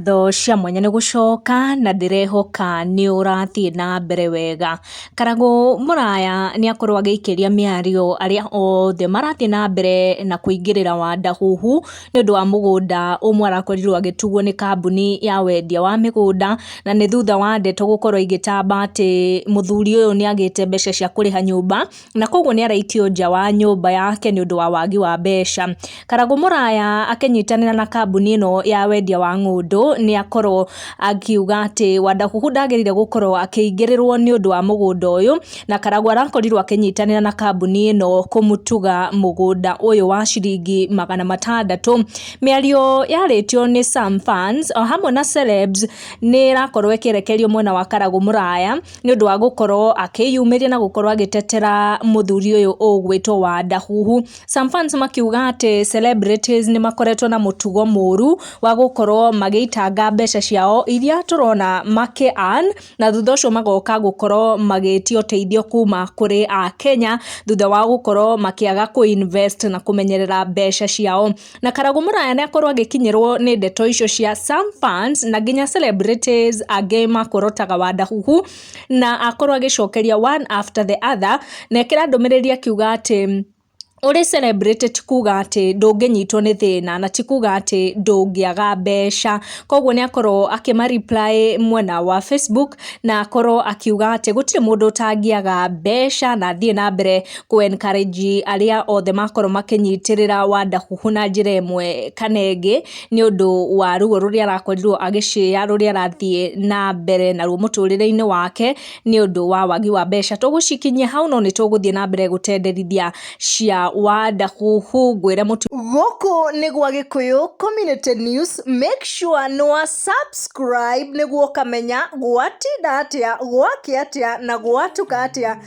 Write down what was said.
ngatho cia mwanya nĩ gũcoka na ndĩrehoka nĩ ũrathiĩ na mbere wega. Karagũ Mũraya nĩ akorwo agĩikĩria mĩario arĩa othe marathiĩ na mbere na kũingĩrĩra Wadahuhu nĩ ũndũ wa mũgũnda ũmwe arakorirwo agĩtuguo nĩ kambuni ya wendia wa mĩgũnda, na nĩ thutha wa ndeto gũkorwo igĩtamba atĩ mũthuri ũyũ nĩ agĩte mbeca cia kũrĩha nyũmba. na koguo nĩ araikio nja wa nyũmba yake nĩ ũndũ wa wagi wa mbeca. Karagũ Mũraya akĩnyitanĩra na kambuni ĩno ya wendia wa ng'ũndũ nĩ akorwo akiuga atĩ Wandakuhu ndagĩrĩire gũkorwo akĩingĩrĩrwo nĩ ũndũ wa mũgũnda ũyũ, na Karagũ arakorirwo akĩnyitanĩra na kambuni ĩno kũmũtuga mũgũnda ũyũ wa ciringi magana matandatũ. Mĩario yarĩtio nĩ Sam Fans o hamwe na Celebs nĩ ĩrakorwo ĩkĩrekererio mwena wa Karagũ Mũraya. nĩ ũndũ wa gũkorwo akĩyumĩria na gũkorwo agĩtetera mũthuri ũyũ ũgwĩtwo Wanda. Some fans makiuga atĩ celebrities nĩ makoretwo na mũtugo mũru wa gũkorwo magĩitanga mbeca ciao iria tũrona makĩ earn na thutha ũcio magoka gũkorwo magĩtia ũteithio kuma kũrĩ Akenya thutha wa gũkorwo makĩaga kũ invest na kũmenyerera mbeca ciao. na Karagũ Mũraya nĩakorwo agĩkinyĩrwo nĩ ndeto icio cia some fans na nginya celebrities angĩ makorotaga wandahuhu na akorwo agĩcokeria one after the other na ekĩra ndũmĩrĩri akiuga atĩ ũrĩ celebrity ti kuga atĩ ndũngĩnyitwo nĩ thĩna na ti kuga atĩ ndũngĩaga mbeca, koguo nĩakorwo akĩma reply mwena wa Facebook na akorwo akiuga atĩ gũtirĩ mũndũ ũtangĩaga mbeca na athiĩ na mbere kũ encourage arĩa othe makorwo makĩnyitĩrĩra Wonderful na njĩra ĩmwe kana ĩngĩ, nĩ ũndũ wa ruo rũrĩa arakorirwo agĩshare rũrĩa arathiĩ na mbere naruo mũtũrĩre-inĩ wake, nĩ ũndũ wa wagi wa mbeca. Tũgũcikinyia hau no nĩ tũgũthiĩ na mbere gũtenderithia cia Wonderful ngwĩre mũtumia. Gũkũ nĩ gwa Gĩkũyũ Community News, make sure nĩ wa. Subscribe nĩguo ũkamenya gwatinda atĩa, gwakĩa atĩa na gwatuka atĩa.